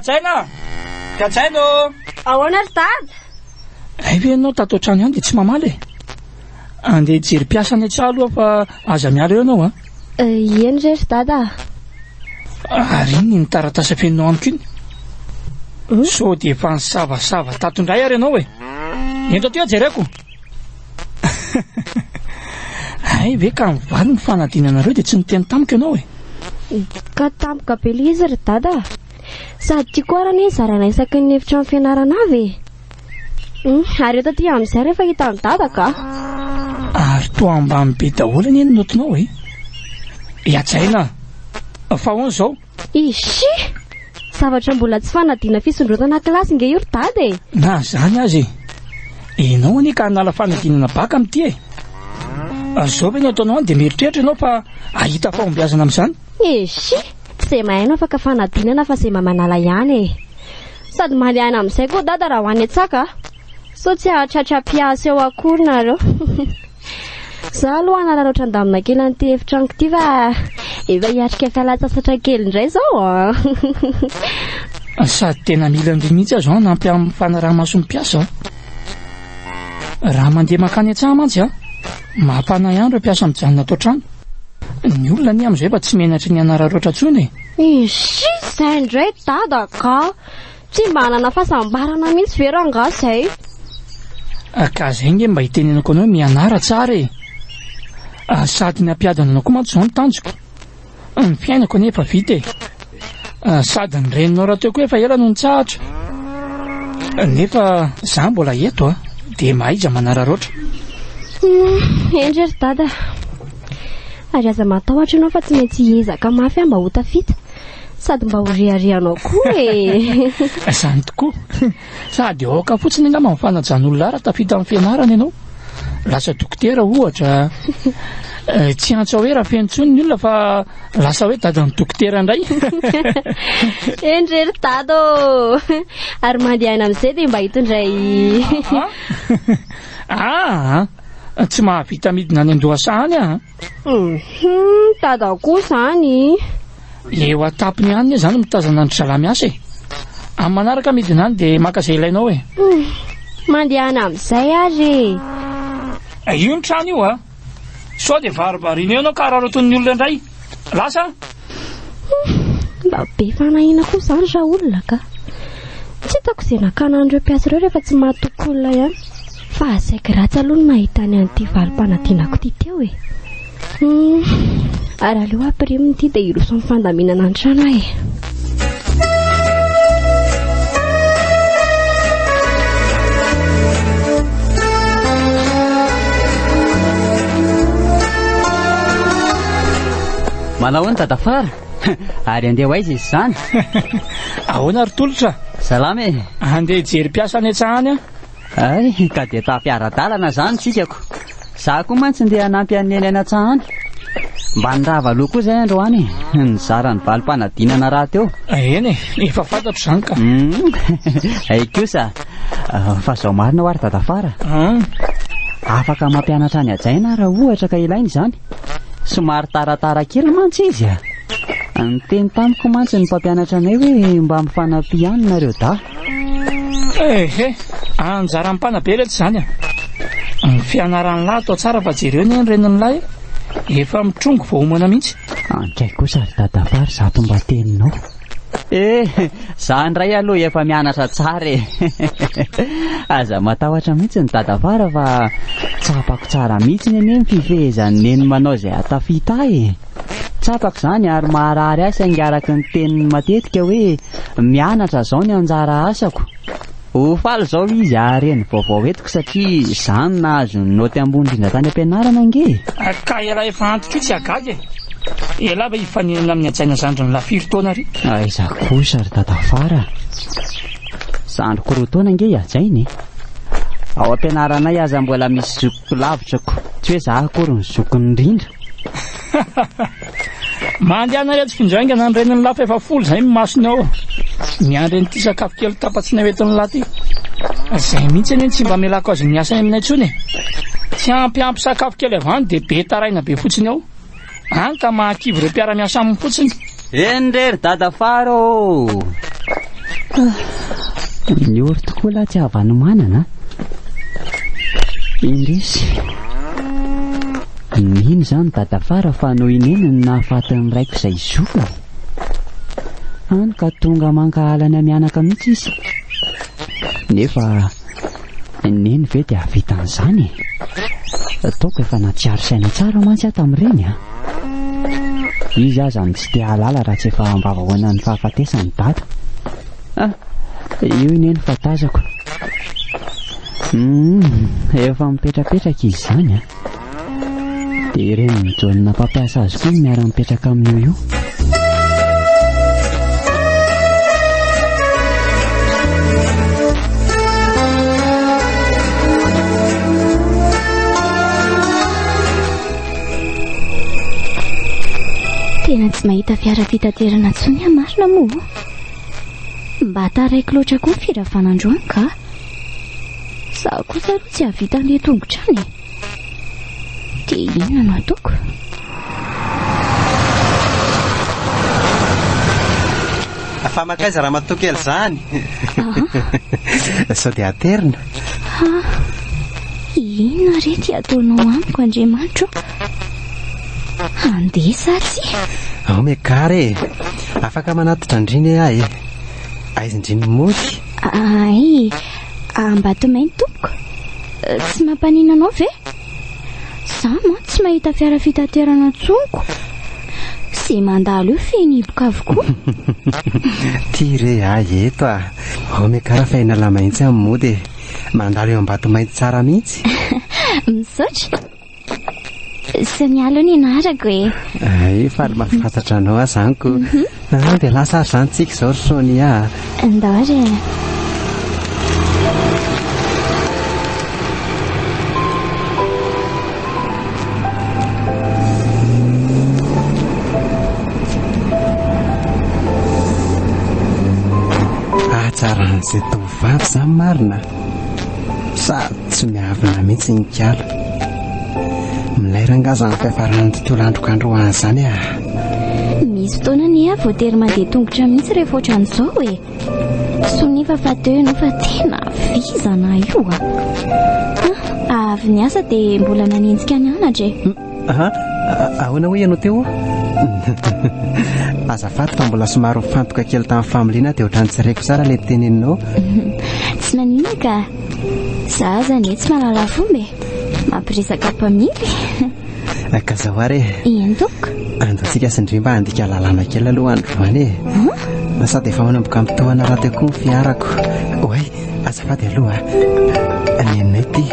Hajaina! Hajaina ô! Ahoana ry dada? Hay ve ianao tato an-trano ihany dia tsy mamaly e? Andeha hijery mpiasa any an-tsaha aloha fa aza miala eo ianao an! Ieny re ry dada a! Ary iny ny taratasy afeninao amiko iny? Sao dia efa nisavasava tato indray ary ianao e? Ento aty aho jereko! Hay ve ka nivaly ny fanadinanareo dia tsy niteny tamiko ianao e? Ka tampoka be ilay izy ry dada a! Sady tiako arany zaraina isaky ny efitrano fianarana avy e! Hmm, ary eo taty amin'izay rehefa hitan'i dadako aho. Ary toa ambany be daholo anie ny notonao e. Iajaina, fa ahoana izao? Ishi! Zavatra mbola tsy fanadina fisondrotana kilasy nge io ry dada e. Na izany aza e. Ianao anie ka hanala fanadinana baka amin'ity e. Izao ve no ataonao any dia mieritreritra ianao fa ahita fahombiazana amin'izany? Ishi! Tsy izay mahay no afaka fanadinana fa izay mba manala ihany e. Sady mandeha any amin'izay koa dada raha ho any an-tsaka sao tsy hahatratra mpiasa eo akory nareo za aloha hanararaotra andamina kely an'ity efitranoko ity fa efa hiatrika fialantsasatra kely indray zao ah. sady tena mila an'ireny mihitsy aho zao hanampy amin'ny fanaraha-mason'ny mpiasa aho raha mandeha makany an-tsaha mantsy aho mampanahy ihany ireo mpiasa mijanona ato an-trano ny olona anie amin'izay efa tsy menatry ny hanararaotra intsony e Ishi! Zay ndray dada ka! Tsy mba hanana fahasambarana mihitsy ve rangahy zay? Ka zay nge mba itenenako anao mianara tsara e! Sady ny hampiadana anao koa mantsy zao no tanjoko. Ny fiainako anie efa vita e! Sady ny reninao rahateo koa efa ela no nitsahatra. Nefa za mbola eto a! Dia mahaiza manararaotra. Hendry ry dada. Ary aza matahotra ianao fa tsy maintsy hiezaka mafy aho mba ho tafita. Sady mba ho reharehanao koa e. Izany tokoa. Sady aoka fotsiny angamba ny fanajan'olona ara tafita amin'ny fianarana ianao. Lasa dokotera ohatra. Eh, tsy antso hoe Rafeno intsony ny olona fa lasa hoe dadan'ny dokotera indray. Endry ry dada ô. Ary mandehana amin'izay dia mba hitondray. Ah, ah. ah. Tsy mahavita midina any an-dohasaha any aho an! Hum, dada koa izany! Ilay eo an-tampony ihany anie izany mitazana an-dry zalahy miasa e! Amin'ny manaraka midina any dia maka izay ilainao e! Hum, mandehana amin'izay ary e! Io ny trano io an! Sao dia varibarina eo ianao ka araraotin'ny olona indray! Lasa an! Mba be fanahiana koa izany ra olona ka. Tsy hitako izay nakana an'ireo mpiasa ireo rehefa tsy mahatoky olona ihany. Fa saiky ratsy aloha ny mahita ny an'ity valim-panadinako ity teo e. Hum, ary aleo ampirimo ity dia hiroso amin'ny fandaminana ny trano aho e. manao ny tadafara ary andeha ho aiza izy izany ahoana ry tolotra salama e andeha hijery mpiasa any an-tsahany aho Hay, cadeta mpiara-dalana izany tsikako. Izaho koa mantsy ndeha hanampy an'i Neny any an-tsaha any. Mba nirava aloha koa izay androany e, nizara ny valim-panadinana rahateo. Eny e, efa fantatro izany ka. Hay kosa, fa izao marina ho'a ry Dadafara a. Afaka mampianatra an'i Hajaina aho raha ohatra ka ilaina izany. Somary taratara kely mantsy izy a. Niteny tamiko mantsy ny mpampianatra anay hoe mba mifanampia ihany nareo dahy. Eh eh! Anjaran'ny mpanabe iletsy izany a! Ny fianaran'ny lahy atao tsara fa jereo anie ny renin'ny lahy e! Efa mitrongy vao homana mihitsy. Andray kosa ry dadafà ry zato mba teninao. Eh! Za indray aloha efa mianatra tsara e! Aza matahotra mihitsy ny dadafara fa tsapako tsara mihitsiny anie ny fifehezan'i Neny manao izay hahatafita ahy e! Tsapako izany ary maharary ahy saingy araka ny teniny matetika hoe mianatra izao ny anjara asako. Ho faly izao izy hahare ny vaovao entiko satria izaho no nahazo ny naoty ambony indrindra tany am-pianarana ange e! Ka ialahy efa antitra io tsy hagaga e! Ialahy ve hifaninana amin'ny hajaina zandry ny lahy firy taona re? Aiza kosa ry dadafara a! Zandriko roa taona ange i hajaina e! Ao am-pianaranay aza mbola misy Ho lavitra ko. Tsy hoe za akory ny zokiny indrindra. Mandehana ireto findraingana ny renin'ny lapa efa folo izay ny masony ao. Miandry an'ity sakafo kely tapa-tsina hoentin'ny lahy ity. Izay mihitsy anie ny tsy mba amelako azy miasa any aminay intsony e. Tsy ampy ampy sakafo kely avy any dia be taraina be fotsiny ao. Any ka mahakivy ireo mpiara-miasa aminy fotsiny. Eny re ry dada fara ô! Niory tokoa lahy tsy havanomanana a! Indrisy! Mino izany i dada fara fa noho i neny no nahafaty ny raiko izay zokiny. Any ka tonga mankahala ny mianaka mihitsy izy. Nefa. Neny ve dia hahavita an'izany e? Ataoko efa nahatsiaro saina tsara mantsy aho tamin'ireny a! Izy aza no tsy te hahalala raha tsy efa ambavahoana ny fahafatesan'i Dada. Ah! Io i Neny fa tazako. Humm! Efa mipetrapetraka izy izany a! Dia ireny mijaolina mpampiasa azy koa no miara-mipetraka amin'io io. Tena tsy mahita fiara fitaterana intsony aho marina moa. Mba taraiko loatra koa ny firavanandroany ka. Za kosa aloha tsy hahavita andeha tongotra any. Dia inona no ataoko? Fa mankaiza ramatoa kely izany? Sao dia aterina? Inona re ty ataonao amiko Andriamanitro? Handeha sa tsy? Ao mekare e. Afaka manatitra andriny ahy e. Aizindriny mody. Ay, A Ambatomainty tompoko? Tsy mampanina anao ve? Za man tsy mahita fiara fitaterana tsonko. Ze mandalo io feno hiboka avokoa. Ty re ahy eto ah. Ome kara fa inala mahitsy amin'ny mody e. Mandalo eo Ambatomainty tsara mihitsy. Misaotra. Sonia aloha ny anarako e. Ay, faly mahafantatra anao aho izany ko. Ah, dia lasa ary izany tsika izao ry Sonia. Ndao re. Ahatsaran'izay tovovavy izany marina. Sady tsy miavona mihitsy ny kiala. Milay ranga izany fiafaran'ny tontolo androko androany izany ah. Misy fotoana ny ahy voatery mandeha tongotra mihitsy rehefa ohatran'izao e. Sonia fa teo ianao fa tena vizana io ah. Avy niasa dia mbola nanenjika nianatra e. Aha, ahoana hoy ianao teo? Azafady fa mbola somary mifantoka kely tamin'ny familiana dia ohatran'ny tsy reko tsara ilay teneninao. Tsy maninona ka. Za azany tsy mahalala fomba e. Mampiresaka mpamily. Eh, ka zao ary e. Eny tompoko. Andatsika sy ndry mba handika lalàna kely aloha androany e. Na sady efa manomboka mitohana rahateo koa ny fiarako. Oay, azafady aloha. Nenay ty.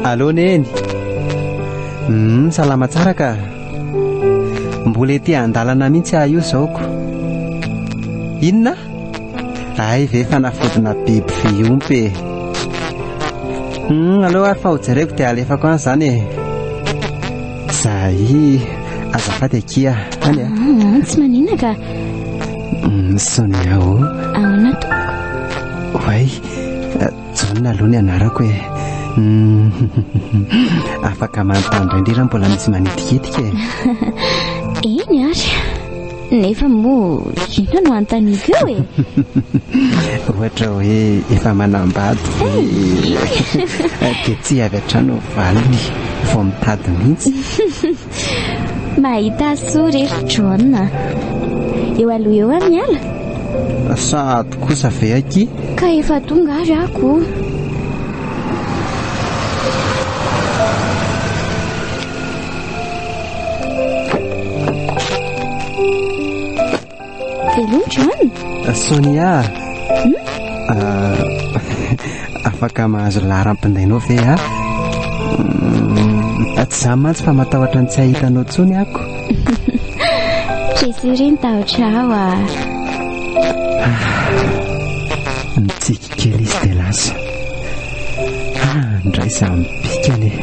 Allo Neny. Humm salama tsara ka. Mbola ety an-dalana mihitsy aho io izao ko. Inona? Hay ve fanafodina biby fiompy e. Humm aleo ary fa ho jereko dia alefako any izany e. Zahii, azafady akia. Any a. Ah, tsy manina ka. Humm Sonia o. Ahoana tompoko? Oay. Jaona aloha ny anarako e. Afaka manontany indray raha mbola misy manitikitika e. Eny ary. Nefa moa inona no antaniko eo e? Ohatra hoe efa manambady dia tsy avy hatrany ho valiny vao mitady mihitsy. Mahita soa re ry John. Eo aloha eo amin'ny ala? Sahady kosa ve akia? Ka efa tonga ary ako. Hello John. Sonia. Hmm? Ah, afaka mahazo laharam-pindainao ve aho? Hmm, tsy za mantsy fa matahotra ny tsy hahitanao tsony ako. Jesiri ny tahotra aho ah. Mitsik. Keliste dia lasa. Ah, indray za mipika anie.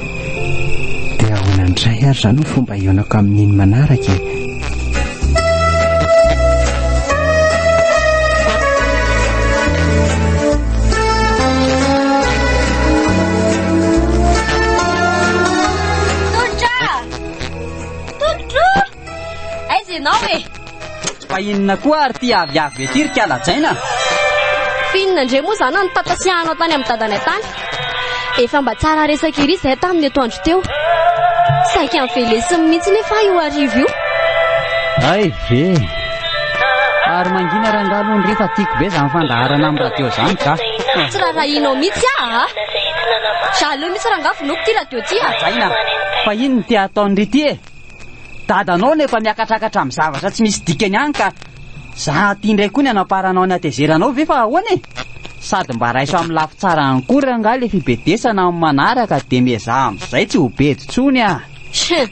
Dia ahoana indray ary izany no fomba hionako amin'iny manaraka e? Aiza ianao e? Fa inona koa ary ity aviavy be ity ry kalajaina? F'inona indray moa izany no nitantasiahanao tany amin'ny dadanay tany? Efa mba tsara resaka ery izahay taminy atoandro teo. Saika novelesiny mihitsy nefa ahy io hariva io. Hay ve! Ary mangina rangahy aloha ndry fa tiako be izany fandaharana amin'ny radio izany ka. Tsy rarahianao mihitsy aho a! Jaloux mihitsy rangahy vonoiko ity radio ity a! Kalajaina, fa inona ity ataony ry ity e? Dadanao no efa miakatrakatra amin'ny zavatra tsy misy dikany any ka za aty indray koa ny hanamparanao ny hatezeranao ve fa ahoana e? Sady mba raiso amin'ny lafy tsara ihany koa re angaha ilay fibedesana amin'ny manaraka dia miezaha amin'izay tsy ho bedy intsony a! Hum,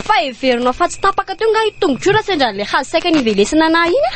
fa heverinao fa tsy tapaka teo angaha iny tongotr'ora sendra an'ilay hazo saika nivelesina anah iny a!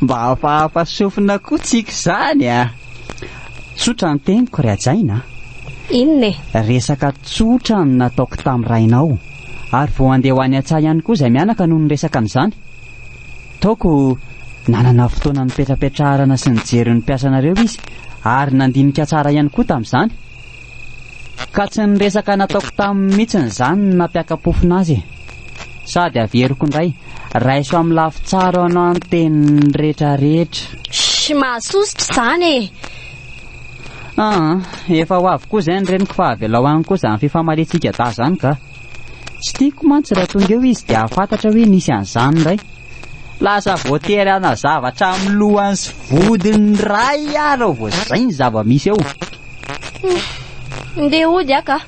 Mba hafahafa sofina koa tsika izany a. Tsotra ny teniko ry hajaina a. Inona e? Resaka tsotra no nataoko tamin'ny rainao. Ary vao handeha ho any an-tsaha ihany koa izay mianaka no niresaka an'izany. Taoko nanana fotoana nipetrapetraharana sy nijery ny mpiasanareo izy ary nandinika tsara ihany koa tamin'izany. Ka tsy ny resaka nataoko taminy mihitsiny izany no nampiaka-pofona azy e! Sady averiko indray, raiso amin'ny lafy tsara hoanao ny teniny rehetra rehetra. Shh! Mahasosotra izany e! Aa! Efa ho avy koa izay ny reniko fa avelao any koa izany fifamaliantsika dahy izany ka! Tsy tiako mantsy raha tonga eo izy dia hahafantatra hoe nisy an'izany indray. Lasa voatery hanazava hatramin'ny lohany sy vodiny iray ary ao vao izay ny zava-misy ao. Ndeha hody aho kah.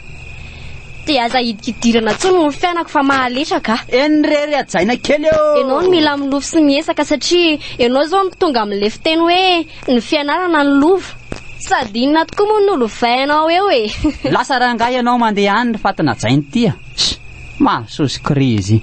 Dia aza hidikidirana intsony ny fiainako fa mahalesa kah. Eny re ry hajaina kely ô! Ianao no mila milofo sy miesaka satria ianao izao no tonga amin'ilay fiteny hoe ny fianarana no lova. Sady inona tokoa moa no lovainao eo e! Lasa rangahy ianao mandeha any ry fatin'hajain'ity a! Mahasoa sy crazy.